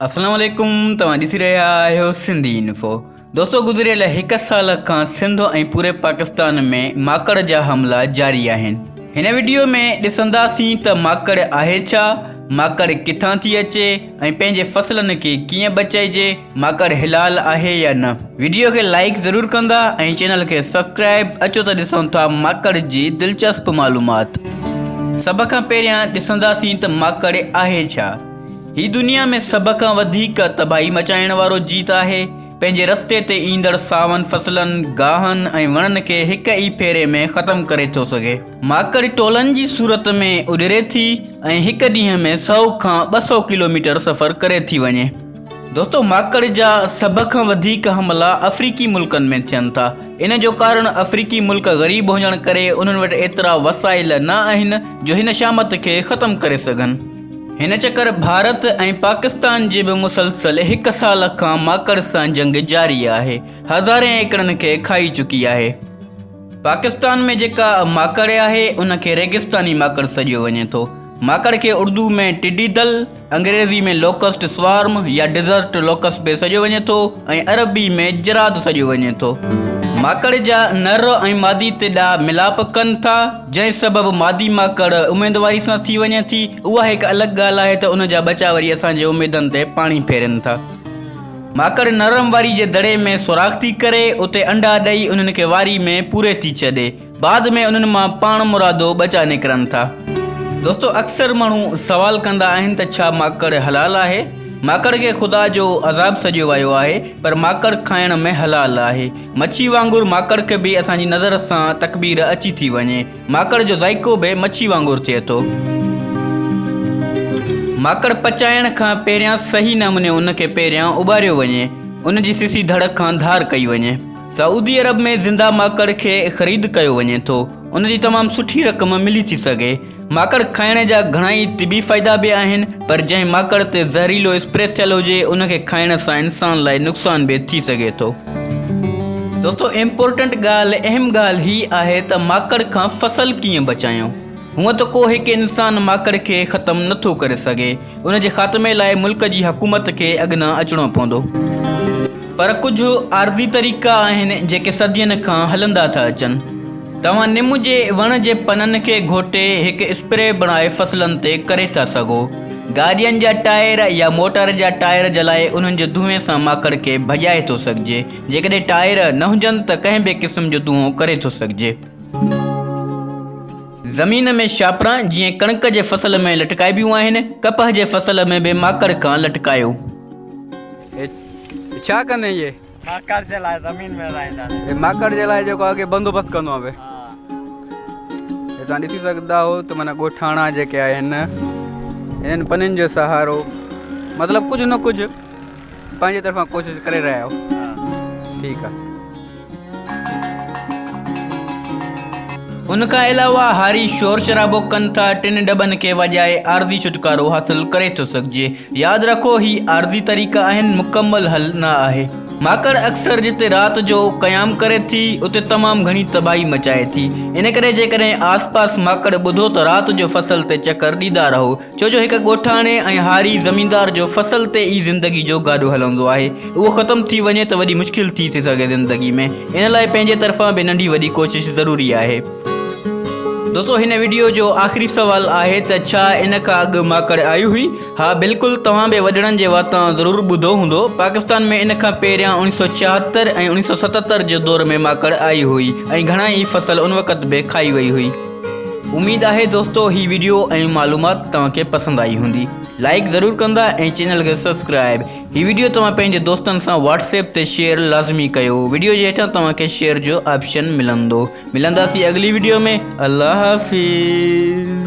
اسلام عليڪم توهان ڏسي رهيا آهيو سنڌي انفو دوستو گذريل هڪ سال کان سنڌ ۽ پوري پاڪستان ۾ ماڪڙ جا حملا جاري آهن هن وڊيو ۾ ڏسنداسين ته ماڪڙ آهي ڇا ماڪڙ ڪٿان ٿي اچي ۽ پنهنجي فصلن کي ڪيئن بچائجي ماڪڙ حلال آهي يا نه وڊيو کي لائڪ ضرور ڪندا ۽ چينل کي سبسڪرائب اچو ته ڏسون ٿا ماڪڙ جي دلچسپ معلومات سڀ کان پهريان ڏسنداسين ته ماڪڙ آهي ڇا هي دنيا ۾ سڀ کان وڌيڪ تباهي مچائڻ وارو جيت آهي، پنهنجي رستي تي ايندڙ ساون فصلن، گاهن ۽ وڻن کي هڪ ئي ڦيري ۾ ختم ڪري ٿو سگهي. ماڪڙ ٽولن جي صورت ۾ اڏري ٿي ۽ هڪ ڏينهن ۾ سؤ کان ٻه سؤ ڪلوميٽر سفر ڪري ٿي وڃي. دوستو ماڪڙ جا سڀ کان وڌيڪ حملا افريقي ملڪن ۾ ٿين ٿا، ان جو ڪارڻ افريقي ملڪ غريب هجڻ ڪري انهن وٽ ايترا وسائل نه آهن جو هن شامت کي ختم ڪري سگهن. هن چڪر ڀارت ۽ پاڪستان جي به مسلسل هڪ سال کان ماڪڙ سان جنگ جاري آهي هزارين ايڪڙن کي کائي چڪي آهي پاڪستان ۾ جيڪا ماڪڙ آهي ان کي ريگستاني ماڪڙ سڏيو وڃي ٿو ماڪڙ کي اردو ۾ ٽڊي دل انگريزي ۾ لوڪسٽ سوارم يا ڊيزرٽ لوڪس به سڏيو وڃي ٿو ۽ عربي ۾ جراد سڏيو وڃي ٿو ماڪڙ جا نر ۽ مادي تي ڏاهه ملاپ ڪن ٿا جنهن سبب مادي ماڪڙ اميدواري سان ٿي وڃي ٿي، اها هڪ الڳ ڳالهه آهي ته ان جا ٻچا وري اسان جي اميدن تي پاڻي ڦيرين ٿا. ماڪڙ نرم واري جي دڙي ۾ سوراخ ٿي ڪري، اتي انڊا ڏئي انهن کي واري ۾ پوري ٿي ڇڏي. بعد ۾ انهن مان پاڻمرادو ٻچا نڪرن ٿا. دوستو اڪثر ماڻهو سوال ڪندا آهن ته ڇا ماڪڙ حلال آهي؟ ماڪڙ کي خدا جو عذاب سڏيو ويو آهي پر ماڪڙ کائڻ ۾ حلال آهي. مڇي وانگر ماڪڙ کي به اسان جي نظر سان تڪبير اچي ٿي وڃي. ماڪڙ جو ذائقو به مڇي وانگر ٿئي ٿو. ماڪڙ پچائڻ کان پهريان صحيح نموني ان کي پهريان اٻاريو وڃي. ان جي سسي ڌڙ کان ڌار ڪئي وڃي. سعودي عرب ۾ زنده ماڪڙ کي خريد ڪيو وڃي ٿو. ان جي تمام سٺي رقم ملي ٿي سگهي. ماڪڙ کائڻ جا گهڻائي طبي فائدا به آهن پر جنهن ماڪڙ تي زهريلو اسپري ٿيل هجي ان کي کائڻ سان انسان لاء نقصان به ٿي سگهي ٿو. دوستو امپورٽنٽ ڳالهه اهم ڳالهه هي آهي ته ماڪڙ کان فصل ڪيئن بچايون هونء ته ڪو هڪ انسان ماڪڙ کي ختم نه ٿو ڪري سگهي ان جي خاتمي لاء ملڪ جي حڪومت کي اڳنا اچڻو پوندو پر ڪجهه عارضي طريقا آهن جيڪي صدين کان هلندا ٿا اچن. توهان نم جي وڻ جي پنن کي گهوٽي هڪ اسپري بڻائي فصلن تي ڪري ٿا سگهو. گاڏين جا ٽائر يا موٽر جا ٽائر جلائي انهن جي دونهين سان ماڪڙ کي ڀڄائي ٿو سگهجي. جيڪڏهن ٽائر نه هجن ته ڪنهن به قسم جو دونهون ڪري ٿو سگهجي. زمين ۾ شاپران جيئن ڪڻڪ جي فصل ۾ لٽڪائبيون آهن، ڪپهه جي فصل ۾ به ماڪڙ کان لٽڪايو. هي ڇا ڪندين اهي؟ ماڪڙ جي لاء زمين ۾ رهائيندا آهن. هي ماڪڙ جي لاء جيڪو اڳي بندوبست ڪندو آهي به. هي توهان ڏسي سگهندا آهو ته معنيٰ ڳوٺاڻا جيڪي آهن انهن پنين جو سهارو مطلب ڪجهه نه ڪجهه پنهنجي طرفان ڪوشش ڪري رهيا آهو ٺيڪ آهي. ان کان علاوه هاري شور شرابو ڪن ٿا ٽن ڊٻن کي وڄائي عارضي ڇوٽڪارو حاصل ڪري ٿو سگهجي ياد رکو هي عارضي طريقا آهن مڪمل حل نه آهي. ماڪڙ اڪثر جتي رات جو قيام ڪري ٿي اتي تمام گهڻي تباهي مچائي ٿي ان ڪري جيڪڏهن آس پاس ماڪڙ ٻڌو ته رات جو فصل تي چڪر ڏيندا رهو ڇو جو هڪ ڳوٺاڻي ۽ هاري زميندار جو فصل تي ئي زندگي جو گاڏو هلندو آهي اهو ختم ٿي وڃي ته وڏي مشڪل ٿي ٿي سگهي زندگي ۾ ان لاء پنهنجي طرفان به ننڍي وڏي ڪوشش ضروري آهي. دوستو هن وڊيو جو آخري سوال آهي ته ڇا ان کان اڳ ماڪڙ آئي هئي؟ ها بلڪل توهان به وڏڙن جي واتان ضرور ٻڌو هوندو پاڪستان ۾ ان کان پهريان اڻيهه سؤ ڇاهتر ۽ اڻيهه سؤ ستتر جي دور ۾ ماڪڙ آئي هئي ۽ گهڻا ئي فصل ان وقت به کائي وئي هئي. اميد آهي دوستو هي ويڊيو ۽ معلومات توهان کي پسند آئي هوندي لائڪ ضرور ڪندا ۽ چينل کي سبسڪرائب هي ويڊيو توهان پنهنجي دوستن سان واٽس ايپ تي شيئر لازمي ڪيو ويڊيو جي هيٺان توهان کي شيئر جو آپشن ملندو ملنداسي اڳلي ويڊيو ۾ الله حافظ